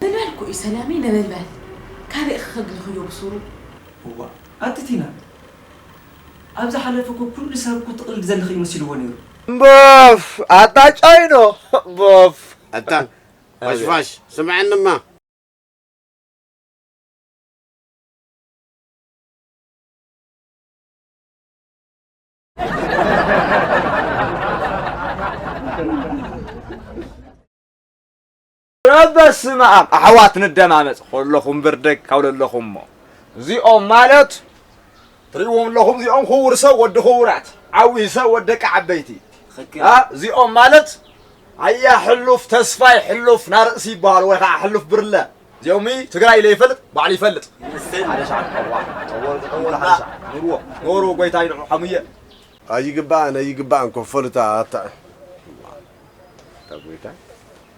ምበልኩ እዩ ሰላመይ ነበልባል ካበይ ኽከግልኽዮ ብሱሩ። እዋእ ኣቲ ቲና ኣብ ዝሓለፈ እኮ ኩሉ ሰብ እኮ ትቅልዲ ዘለኺ እዩ መሲልዎ ነይሩ። ቦፍ ኣታ ጮይኖ ቦፍ። ኣታ ፋሽፋሽ ስምዐኒማ። እረ በስመኣም ኣሕዋት ንደማመፅ ከለኹም ብርደግ ካብ ለለኹም እሞ እዚኦም ማለት ትሪእዎም ኣለኹም እዚኦም ክቡር ሰብ ወዲ ክቡራት ዓብዪ ሰብ ወዲ ደቂ ዓበይቲ እዚኦም ማለት ኣያ ሕሉፍ ተስፋይ ሕሉፍ ናርእሲ ይበሃሉ ወይ ከዓ ሕሉፍ ብርለ እዚኦም ትግራይ ለይፈልጥ ባዕሉ ይፈልጥ ሓደ ሰዓት ኑርዎ ኖሩ ጎይታ ይንዑ ሓሙየ ኣይግባእን ኣይግባእን ኮፈልታ ኣታ ጎይታ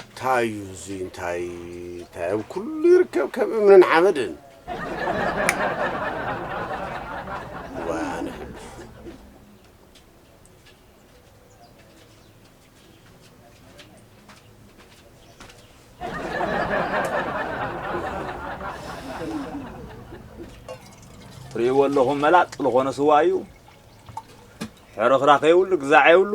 እንታይ እዩ እዚ እንታይ እንታይ ኣብ ኩሉ ይርከብ ከም እምንን ሓመድን ዋነ ትርእይዎ ኣለኹም መላጥ ዝኾነ ስዋ እዩ ሕርኽራኽ የብሉ ግዛዕ የብሉ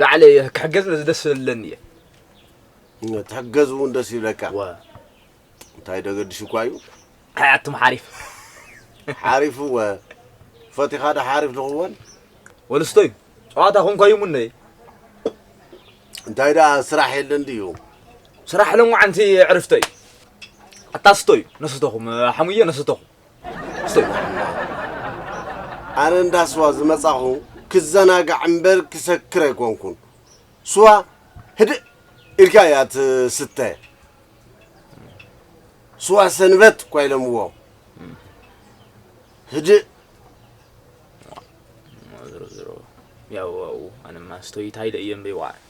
ላዕለ እየ ክሕገዝ ነዚ ደስ ስለለኒ እየ ትሕገዝ እውን ደስ ይብለካ እንታይ ደገድሽ እኳ እዩ ኣያትም ሓሪፍ ሓሪፍ እወ ፈቲኻ ዶ ሓሪፍ ንኽወን ወልስቶ እዩ ጨዋታ ኮንኳ እዩ ሙነ እንታይ ደኣ ስራሕ የለን ድዩ ስራሕ ሎምዓንቲ ዕርፍቶ እዩ ኣታስቶ እዩ ነስተኹም ሓሙየ ነስተኹም ኣነ እንዳ ስዋ ዝመጻኹ ክዘናጋዕ እምበር ክሰክር ኣይኮንኩን። ስዋ ህድእ ኢልካ እያ ትስተ። ስዋ ሰንበት እኳ ኢሎምዎ ህድእ ዝሮ ዝሮ ያው ኣነማ ስቶይታይ ደእየ እምበይ ዋዕ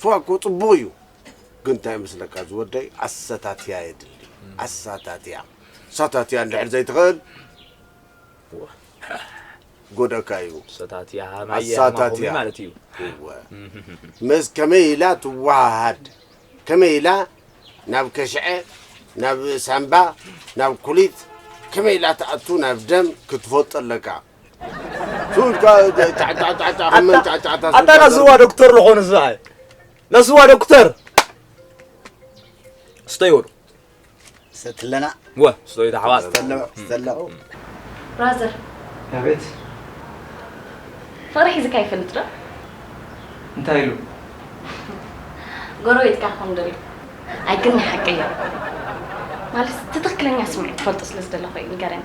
ስዋ እኮ ጽቡቅ እዩ ግን እንታይ መስለካ ዝወደይ ኣሰታትያ የድሊ ኣሳታትያ ኣሳታትያ እንድሕር ዘይትክእል ጎደካ እዩ ሰታትያ ማየ ኣሳታትያ። ማኹሚ ማለት እዩ እወ ምስ ከመይ ኢላ ትወሃሃድ ከመይ ኢላ ናብ ከሽዐ ናብ ሳምባ ናብ ኩሊት ከመይ ኢላ ትኣቱ ናብ ደም ክትፈልጦ ኣለካ ኣታ ናዝዋ ዶክተር ዝኾኑ ዝበሃል ናዝዋ ዶክተር ስተይ ወዱ ሰትለና ወ ስተይ ተሓዋስ ሰለው ብራዘር ኣቤት ፍቕሪ ሒዝካ ይፈልጥ ዶ እንታይ ኢሉ ጎረቤትካ ክኾን ደልዩ ኣይ ግን ናይ ሓቂ እያ ማለት እቲ ትኽክለኛ ስምዒት ትፈልጦ ስለ ዝደለኹ እዩ ንገረኒ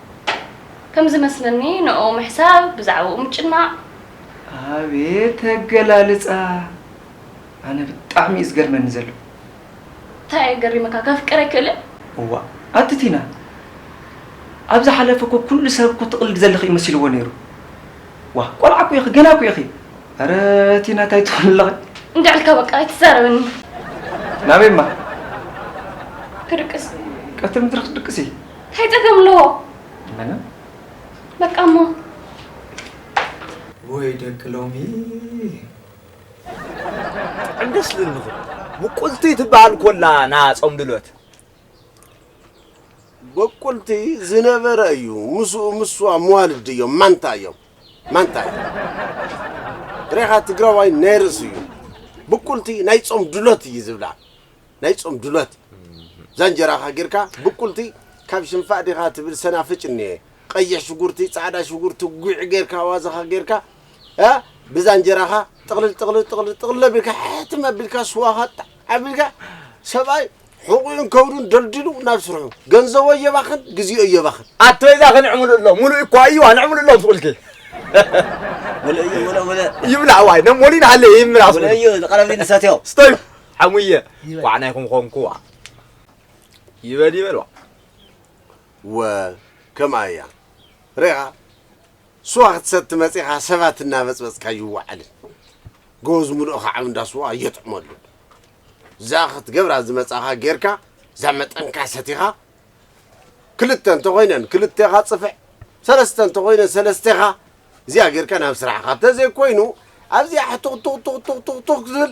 ከም ዝመስለኒ ንዕኡ ምሕሳብ ብዛዕብኡ ምጭናቕ። ኣቤት ኣገላልጻ ኣነ ብጣዕሚ እዩ ዝገርመኒ ዘሎ። ታይ እዩ ገሪምካ ከፍቅር ኣይክእልን? እዋእ ኣቲ ቲና ኣብ ዝሓለፈ እኮ ኩሉ ሰብ እኮ ትቕልዲ ዘለኺ እዩ መሲልዎ ነይሩ ዋእ ቆልዓ እኮ ኢኺ ገና እኮ ኢኺ ኣረ ቲና ታይ ትብሊ ኣለኺ እንድዒ ኢልካ በቃ ኣይትዛረበኒ። ናበይ እማ? ክድቅስ። ቀትሪ ምድሪ ክትድቅሲ? ታይ ጸገም ኣለዎ? ምንም። በቃ እሞ ወይ ደቂ ሎሚ ብጣዕሚ ደስ ዝብል ምኽሪ ምቁልቲ ትበሃል ኮላ ና ጾም ድሎት በቁልቲ ዝነበረ እዩ ምስኡ ምሷ መዋልድ እዮም ማንታ እዮም ማንታ እዩ ሬኻ ትግራዋይ ናይ ርእሲ እዩ ብቁልቲ ናይ ጾም ድሎት እዩ ዝብላ ናይ ጾም ድሎት ዛንጀራኻ ጌርካ ብቁልቲ ካብ ሽንፋእ ዲኻ ትብል ሰናፍጭ እኒኤ ቐይሕ ሽጉርቲ ጻዕዳ ሽጉርቲ ጉዕ ጌርካ ኣዋዘኻ ጌርካ እ ብዛንጀራኻ ጥቕልል ጥቕልል ጥቕልል ጥቕልል ኣቢልካ ሕትም ኣቢልካ ስዋኻ ጣዕ ኣቢልካ ሰብኣይ ሕቑኡን ከብዱን ደልዲሉ ናብ ስርሑ ገንዘቦ የባኽን ግዜኡ የባኽን ኣቶ ይዛ ክንዕምሉ ኣሎ ሙሉእ እኳ እዩ ኣንዕምሉ ኣሎ ብቁልቲ ሙሉእ እዩ ሙሉእ ሙሉእ ይብላዕ ዋይ ነሞሊን ሃለ ይምራሱ ሙሉእ እዩ ዝቐረብኒ ንሰትዮ ስተዩ ሓሙየ ኳዕ ናይ ኾንኾንኩዋ ይበል ይበል ዋ እወ ከምኣ እያ ርኢኻ ስዋ ክትሰቲ መጺኻ ሰባት እናበጽበጽካ ኣይወዓልን ጎዝ ሙሉእ ኸዓብ እንዳ ስዋ ኣየጥዕመሉን እዛ ክትገብራ ዝመጻኻ ጌርካ እዛ መጠንካ ሰቲኻ ክልተ እንተኾይነን ክልቴኻ ጽፍዕ ሰለስተ እንተኾይነን ሰለስቴኻ እዚኣ ጌርካ ናብ ስራሕኻ እንተዘይኮይኑ ኣብዚኣ ሕቱኽቱኽቱኽቱኽቱኽ ዝብል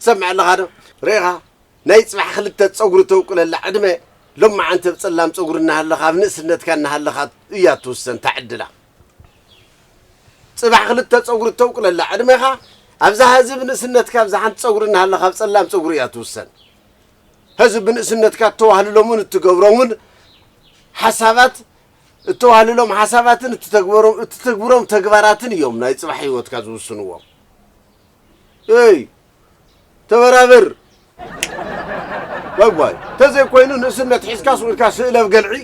ትሰምዕ ኣለኻ ዶ ርኢኻ ናይ ጽባሕ ክልተ ጸጉሪ ተውቅለላ ዕድመ ሎማዓንቲ ኣብ ጸላም ጸጉሪ እናሃለኻ ኣብ ንእስነትካ እናሃለኻ እያ ትውሰን እታ ዕድላ ጽባሕ ክልተ ጸጉሪ ተውቅለላ ዕድመኻ ኣብዛ ሀዚ ብንእስነትካ ኣብዛ ሓንቲ ጸጉሪ እናሃለኻ ኣብ ጸላም ጸጉሪ እያ ትውሰን ሀዚ ብንእስነትካ እተዋህልሎምን እትገብሮምን ሓሳባት እተዋህልሎም ሓሳባትን እትተግብሮም ተግባራትን እዮም ናይ ጽባሕ ህይወትካ ዝውስንዎ እይ ተበራብር ዋይ ተዘይ ኮይኑ ንእስነት ሒዝካ ስኢልካ ስእለብ ገልዒ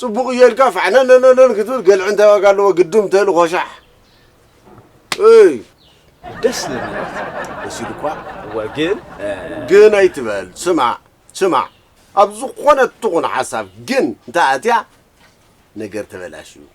ፅቡቅ እየ ኢልካ ፋዕነነነን ክትብል ገልዒ እንታይ ዋጋ ኣለዎ ግድም ተል ኮሻሕ እይ ደስ ልብለት ደስ ኢሉ እኳ እወ ግን ግን ኣይትበል ስማዕ ስማዕ ኣብ ዝኾነ ትኹን ሓሳብ ግን እንተኣትያ ነገር ተበላሽዩ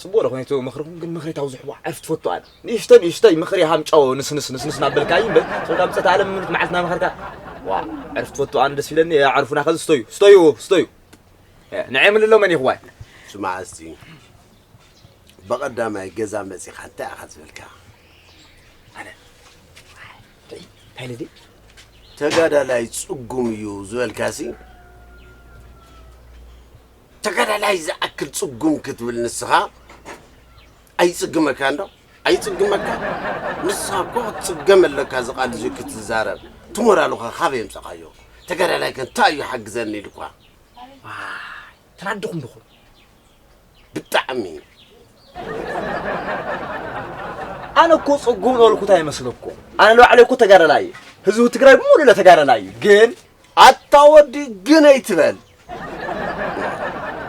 ጽቡቕ ደኾን እቲ ምኽርኹም ግን ምኽሪ ታው ዝሕቦ ዓርፍ ትፈቱ ኣነ ንእሽተይ ንእሽተይ ምኽሪ ሃምጫዎ ንስንስ ንስንስ ናበልካይ እምበር ጾታ ምጸት ኣለም ምኑት መዓልት ናመኸርካ ዋ ዕርፍ ትፈቱ ኣነ ደስ ይብለኒ ኣዕርፉና ከዚ ስተዩ ስተዩ ስተዩ ንዐ ምልሎ መን ይኽዋይ ስማዕ እስቲ ብቐዳማይ ገዛ መጺኻ እንታይ ኢኻ ዝበልካ ኣነ እንታይ ልዲ ተጋዳላይ ጽጉም እዩ ዝበልካሲ ተጋዳላይ ዝኣክል ጽጉም ክትብል ንስኻ ኣይጽግመካን ዶ? ኣይጽግመካን? ንስኻ እኮ ክትጽገም ኣለካ እዚ ቃል እዚ ክትዛረብ። እቲ ሞራልኻ ካበይ የምጻኻዮ? ተጋዳላይ ከ እንታይ እዩ ሓግዘኒ ኢልኳ? ዋይ ተናድኹም ድኹም ብጣዕሚ ኣነ እኮ ጽጉም ዝበልኩት ኣይመስለኩም ኣነ ንባዕለይ እኮ ተጋዳላይ እየ ህዝቢ ትግራይ ብምሉእ ለተጋዳላይ እዩ ግን ኣታ ወዲ ግን ኣይትበል።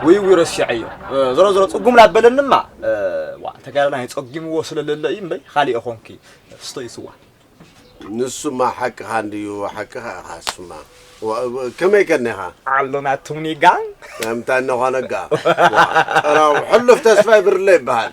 ውይ ውይ ረሲዐዮ ዞሮ ዞሮ ፅጉም ላበለንማ ዋ ተጋዳላይ ፀጊምዎ ስለለለ እዩ እምበይ ካሊእ ኾንኪ ፍስቶ ይስዋ ንሱማ ሓቅኻ እንድዩ ሓቅኻ ኢኻ እሱማ ከመይ ከኔኻ ኣሎና ቱምኒጋ ከምታ እነኾነጋ ጥራው ሕሉፍ ተስፋይ ብርለ ይበሃል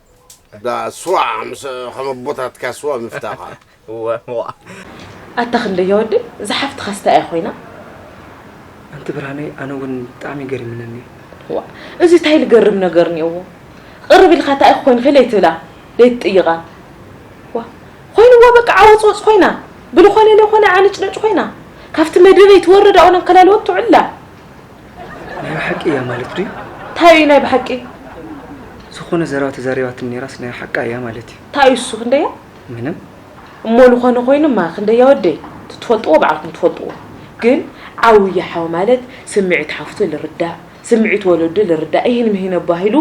እታ ስዋ ምስ ከም ኣቦታትካ ስዋ ምፍታኻ። እወ ዋእ። ኣታ ክንደያ ወዲ እዛ ሓፍትኻስ ታይ እያ ኮይና። ኣንቲ ብርሃነይ ኣነ ውን ብጣዕሚ ገሪምነኒ እዩ። ዋእ እዚ ታይ ልገርም ነገር እኒኦዎ ቕርብ ኢልኻ ታይ እኺ ኮይንኺ ለይትብላ ለይትጥይቓ ዋእ ኾይንዋ በቃ ዓወፅወፅ ኾይና ብልኾነ ለኾነ ዓነጭነጭ ኾይና ካፍቲ መደበይ ትወርድ ኣብኡ ኣንከላልወት ትውዕል እላ ናይ ብሓቂ እያ ማለት ድዩ? እንታይ እዩ ናይ ብሓቂ? ዝኾነ ዘረባ ተዛሪባትኒ ነይራስ ናይ ሓቃ እያ ማለት እዩ። እንታይ እዩ እሱ ክንደያ? ምንም። እሞ ዝኾነ ኮይኑማ ክንደያ ወደይ ትትፈልጥዎ ባዕልኩም ትፈልጥዎ ግን ዓውየ ሓው ማለት ስምዒት ሓፍቱ ልርዳእ ስምዒት ወለዱ ልርዳእ ኢሂን ምሂን ኣባሂሉ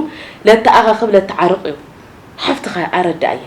ለተኣኻኽብ ለተዓርቕ እዩ። ሓፍትኻ ኣረዳእያ።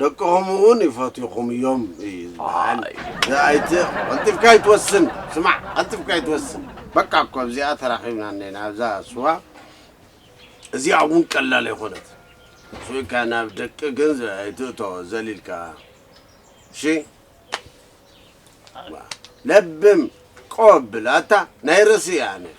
ደቅኹም እውን ይፈትዩኹም እዮም እዩ ዝበሃል ኣይተ ቀልጢፍካ ይትወስን ስማዕ ቀልጢፍካ ይትወስን በቃ እኮ ኣብዚኣ ተራኺብና እኔና ኣብዛ ስዋ እዚኣ እውን ቀላል ኣይኮነት ስኢካ ናብ ደቂ ግን ኣይትእቶ ዘሊልካ እሺ ለብም ቆብል ኣታ ናይ ርእሲ እያ ነር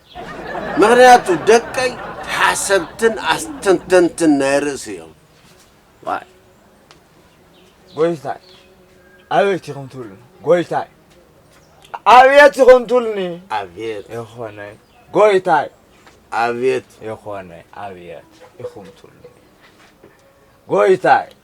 ምኽንያቱ ደቀይ ሓሰብትን ኣስተንተንትን ናይ ርእሲ እዮም። ዋይ ጎይታይ ኣበይቲ ኹም ትብሉኒ ጎይታይ ኣብየት ኹም ትብሉኒ ኣብየት የኾነይ ጎይታይ ኣብየት የኾነይ ኣብየት ኢኹም ትብሉኒ ጎይታይ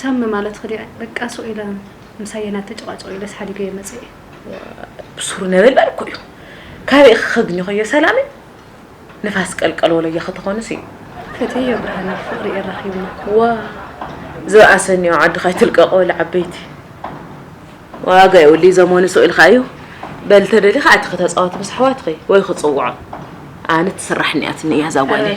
ሳሚ ማለት ክዲዐ በቃ ሱቅ ኢለ ምሳየ ናተ ጨቃጨቁ ኢለስ ሓዲገዮ መፂኤ። ዋይ ብሱሩ ነበልባል እኮ እዩ ካበይ ኢኪ ከግኝከዮ ሰላመይ ንፋስ ቀልቀል ወለየ ከተኮኑ ሲ። ፈትየዮ ብርሃነይ ፍቅሪ የራኪብና። ዋይ ዝብኣሰ እኒኦ ዓድካ ኣይትልቀቁ በሉ ዓበይቲ። ዋጋ የብሉይ ዘመኑ ሱቅ ኢልካ እዩ በል ተደሊካ ኣቲኪ ተፃወቲ ምስ ኣሕዋትኪ ወይ ክፅውዖም ኣነ ትስራሕ እኒኣትኒ እያ እዛ ጓለይ።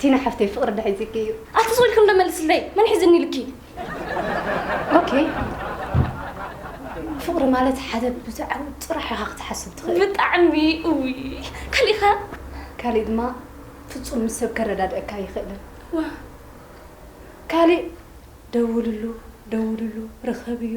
ቲና ሓፍተይ ፍቕሪ ድሒዝኪ እዩ። ኣቲ ዝብልክም ዶ መልስለይ መን ሒዝኒ ኢልኪ? ኦኬ ፍቕሪ ማለት ሓደ ብዛዕባ ጥራሕ ኢኻ ክትሓስብ ትኽእል። ብጣዕሚ እዊ ካልእ ኸ? ካልእ ድማ ፍጹም ምስ ሰብ ከረዳድአካ ይኽእልን። ካልእ ደውልሉ ደውልሉ ርኸብዮ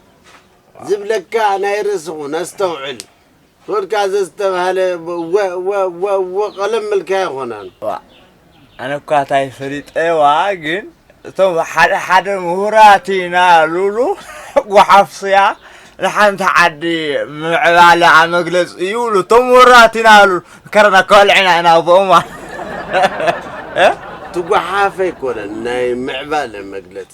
ዝብለካ ናይ ርእሲ ኩን ኣስተውዕል ፖድካ ዘዝተባህለ ወወወወወ ቀለም እልካ ኣይኮነን። ኣነ እኳ እንታይ ፈሊጠዋ ግን እቶም ሓደ ሓደ ምሁራት ኢና ሉሉ ጓሓፍስያ ንሓንቲ ዓዲ ምዕባለ ኣመግለጽ ይብሉ እቶም ወራት ኢና ሉ ከረና ከልዕና ኢና ብኦማ ትጓሓፈ ኣይኮነን ናይ ምዕባለ መግለጺ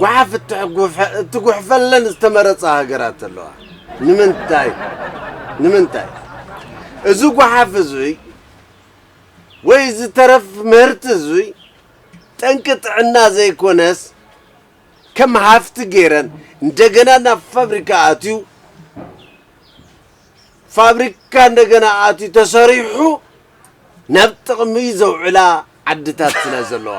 ጓሓፍ እትጉሕፈለን ዝተመረፃ ሃገራት ኣለዋ። ንምንታይ ንምንታይ እዚ ጓሓፍ እዙይ ወይ እዚ ተረፍ ምህርቲ እዙይ ጠንቂ ጥዕና ዘይኮነስ ከም ሃፍቲ ገይረን እንደገና ናብ ፋብሪካ ኣትዩ ፋብሪካ እንደገና ኣትዩ ተሰሪሑ ናብ ጥቕሚ ዘውዕላ ዓድታት ስለ ዘለዋ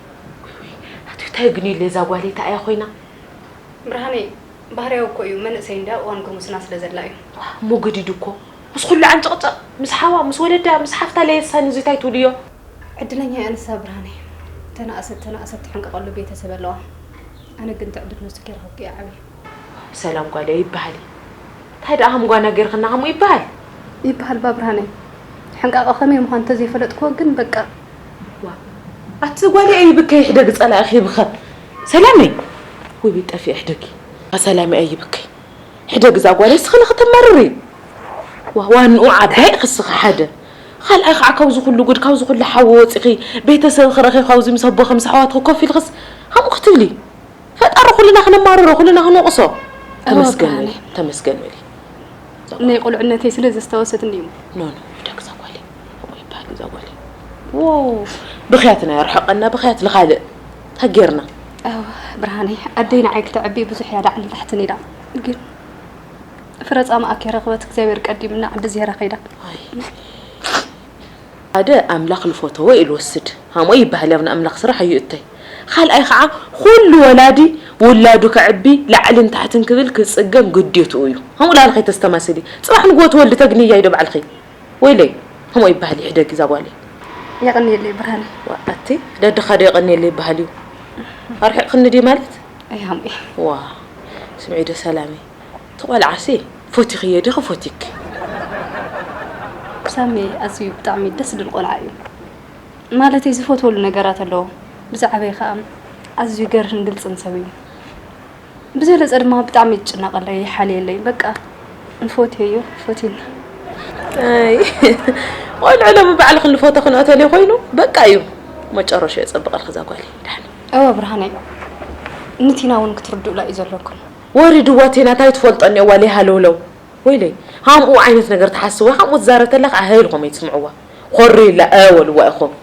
ኣቱይ ታይ ግንዩለይ እዛ ጓለይ ታይ እያ ኮይና። ብርሃነይ ባህርያዊ እኮ እዩ መንእሰይ እንድያ እዋን ጉርምስና ስለ ዘላ እዩ። ዋእ እሞ ገዲዱ እኮ ምስ ኩሉ ዓንጨቅጨቅ ምስ ሓዋ ምስ ወለዳ ምስ ሓፍታ ለየሳ ንዙይ ታይ ትብልዮ። ዕድለኛ እያ ንሳ ብርሃነይ ተናእሰት ተናእሰት ትሕንቅቀሉ ቤተሰብ ኣለዋ ኣነ ግን ትዕብት ነሱ ጌርክኪ እያ ዓብየ። ዋእ ብሰላም ጓለይ ኣይበሃልን እዩ ታይ ደኣ ሃም ጓና ጌርክና ሃሙ ይበሃል። ይበሃል እባ ብርሃነይ ሕንቃቀ ከመይ ምኳኑ ተዘይፈለጥክዎ ግን በቃ። ኣቲ ጓልያ ይብከይ ሕደግ ጸላኢኺ ይብኸ ሰላመይ ውይ ጠፊኤ ሕደጊ ኣሰላመይ ኣይብከይ ሕደግ እዛ ጓልያ እስኺ ንኽትመርሪ ዋንኡ ዓባይ ኢኺ እስኺ ሓደ ካልኣይ ከዓ ካብዚ ኩሉ ጉድ ካብዚ ኩሉ ሓዊ ወፂኺ ቤተሰብኺ ረኺብኺ ኣብዚ ምስ ኣቦኺ ምስ ኣሕዋትኺ ኮፍ ኢልኽስ ከምኡ ክትብሊ ፈጣሪ ኩልና ክንማረሮ ኩልና ክንወቕሶ ተመስገን በሊ ተመስገን በሊ ናይ ቁልዕነተይ ስለ ዘስታወሰትኒ እዩ ኖ ኖ ደግዛ ጓለይ ይባል እዛ ጓል ዋው ብኽያትና የርሕቀና ብኽያት ልኻልእ ታጌርና ብርሃነይ ኣደይ ንዓይ ክተዕቢ ብዙሕ እያ ላዕልን ታሕትን ኢላ ግን ፍረ ጻማኣ ከይረኽበት እግዚኣብሔር ቀዲምና ዓዲ ዜራ ከይዳ ሓደ ኣምላኽ ልፈተዎ እዩ ልወስድ ሃምኡ ይበሃል ኣብ ንኣምላኽ ስራሕ እዩ እተይ ካልኣይ ከዓ ኩሉ ወላዲ ውላዱ ከዕቢ ላዕልን ታሕትን ክብል ክፅገም ግዴትኡ እዩ ሃምኡ ላዕሊ ከይተስተማስሊ ፅባሕ ንግሆ ትወልዲ ተግንያ ኢዶ ባዕልኺ ወይለይ ከምኡ ኣይበሃል እዩ ሕደጊ እዛ ጓለይ የቕንየለይ ብርሃነይ ዋ ኣቲ ደድኻ ዶ የቐንየለይ ይበሃል እዩ ኣርሒቕክኒ ድዩ ማለት ኣይሃምበይ ዋ ስምዒ ዶ ሰላመይ እቲ ቆልዓሲ ፎቲኽዮ ዲኺ ፎቲኪ ሳሚ ኣዝዩ ብጣዕሚ ደስ ዝብል ቆልዓ እዩ ማለተይ ዝፈትወሉ ነገራት ኣለዎ ብዛዕበይ ከዓ ኣዝዩ ገርህን ግልፅን ሰብ እዩ ብዘለፀ ድማ ብጣዕሚ ይጭነቐለይ ይሓልየለይ በቃ ንፎትዮ እዩ ፎቲና ቆልዑ ሎሚ በዓል ክንፎቶ ክንኦተልዮ ኮይኑ በቃ እዩ መጨረሾ የፀብቐልክ እዛ ጓል ዳሓን እወ ብርሃነይ ንቲና እውን ክትርድኡላ እዩ ዘለኩም ወሪድዋ ቲና እንታይ ትፈልጦ እኒኦዋ ለይሃለውለው ወይለይ ሃምኡ ዓይነት ነገር ትሓስብ ወይ ሃምኡ ትዛረብ ተላ ከዓ ሀይልኹም እይትስምዕዋ ኮርዩላ እ በልዋ ኢኹም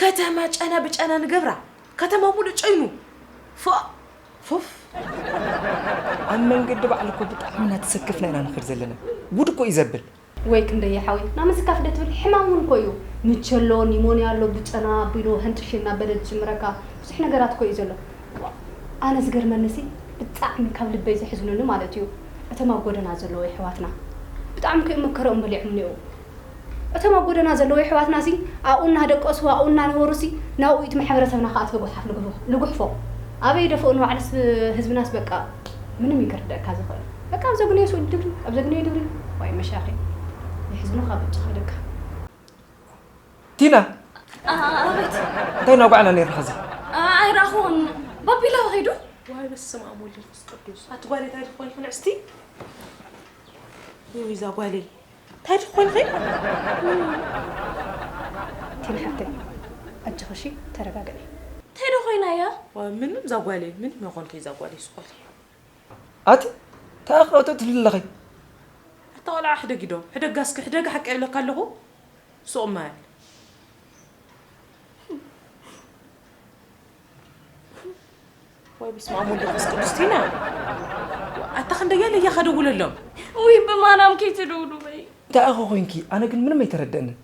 ከተማ ጨና ብጨና ንገብራ ከተማ ሙሉእ ጨይኑ ፎእ ፎፍ ኣብ መንገዲ ባዕሉ እኮ ብጣዕሚ ኢና ተሰክፍና ኢና ንኸድ ዘለና ጉድ እኮ እዩ ዘብል ወይ ክንደይ የሓወይ ናብ ምስካፍ ዶ ትብል ሕማም እውን እኮ እዩ ምቸ ኣሎ ኒሞንያ ኣሎ ብጨና ኣቢሉ ሕንጥሽ እናበለ ዝጅምረካ ብዙሕ ነገራት እኮ እዩ ዘሎ ዋእ ኣነ ዝገርመኒ ሲ ብጣዕሚ ካብ ልበይ ዘሕዝኑኒ ማለት እዩ እቶም ኣብ ጎደና ዘለዉ የሕዋትና ብጣዕሚ እኮ እዮም መከረኦም በሊዖም እኒኦው እቶም ኣብ ጎደና ዘለዉ የሕዋትና'ሲ ኣብኡ እናደቀሱ ኣብኡ እናነበሩ'ሲ ናብኡ እዩ እቲ ማሕበረሰብና ክኣ እትበ ጎሓፍ ልጉሕፎ ኣበይ ይደፍኡ ንባዕልስ ህዝብናስ በቃ ምንም እዩ ክርደኣካ ዝኽእል በቃ ኣብ ዘግነዮ ስዑዲ ድብሪ ኣብ ዘግነዮ ድብሪ ዋይ መሻኺ የሕዝኑኻ ብጫ ከይደካ። ቲና ኣቤት እንታይ እናውጋዕና ኔርና ሕዚ? ኣይረኣኹዎን ባቢ ኢላሆ ከይዱ። ዋይ በስመኣብ ወልድ መንፈስ ቅዱስ ኣቲ ጓለይ ታይ ድኾንኪ ንዕስቲ ውይ እዛ ጓለይ እንታይ ዶ ኮይንኺ? ቲና ሓፍተይ ኣጆኺ እሺ ተረጋግዒ። እንታይ ዶ ኮይና እያ? ምንም እዛ ጓለይ ምንም ኣይኮንኩይ እዛ ጓለይ ስቆልቲ። ኣቲ ታይ ኣኽላውቲ ትብሊ ኣለኺ? ኣታ ቆልዓ ሕደጊዶ ሕደጋ እስኪ ሕደጋ ሓቀይ እብለካ ኣለኹ ሱቅ ማል። ወይ ብስመ አብ ወወልድ ወመንፈስ ቅዱስ ቲና ኣታ ክንደያ ለያ ከደውለሎም ውይ ብማርያም ከይትደውሉ በይ እንታይ ኢኹ ኮንኪ ኣነ ግን ምንም ኣይተረደእንን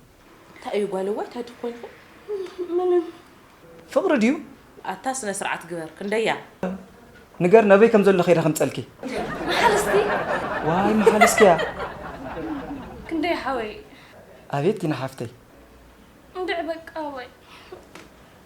እንታይ እዩ ጓለዋይ እንታይ ትኮንኹ ምንም ፍቅሪ ድዩ ኣታ ስነ ስርዓት ግበር ክንደያ ንገር ነበይ ከም ዘሎ ከይደ ከምፀልኪ መሓልስቲ ዋይ መሓልስኪያ ክንደይ ሓወይ ኣቤት ቲና ሓፍተይ እንድዕ በቃ ወይ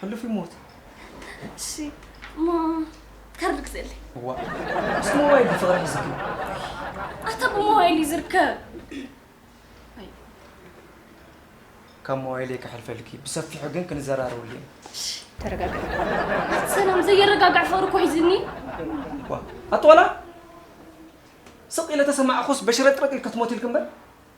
ሕሉፍ ይሞት እሺ እሞ ካርድ ግዘለይ እዋ ምስ ሞባይል ብፍቕሪ ሕዝኪ ኣታ ብሞባይል እዩ ዝርከብ ካብ ሞባይለይ ከሕልፈልኪ ብሰፊሑ ግን ክንዘራረበሉ ኢና ተረጋጋ ኣቲ ሰላም ዘየረጋግዕ ፍቕሪ እኮ ሒዝኒ ዋ ኣቶ ዋላ ስቕ ኢለ ተሰማዕኹስ በሽረጥረጥ ኢልኪ ትሞት ኢልኪ እምበር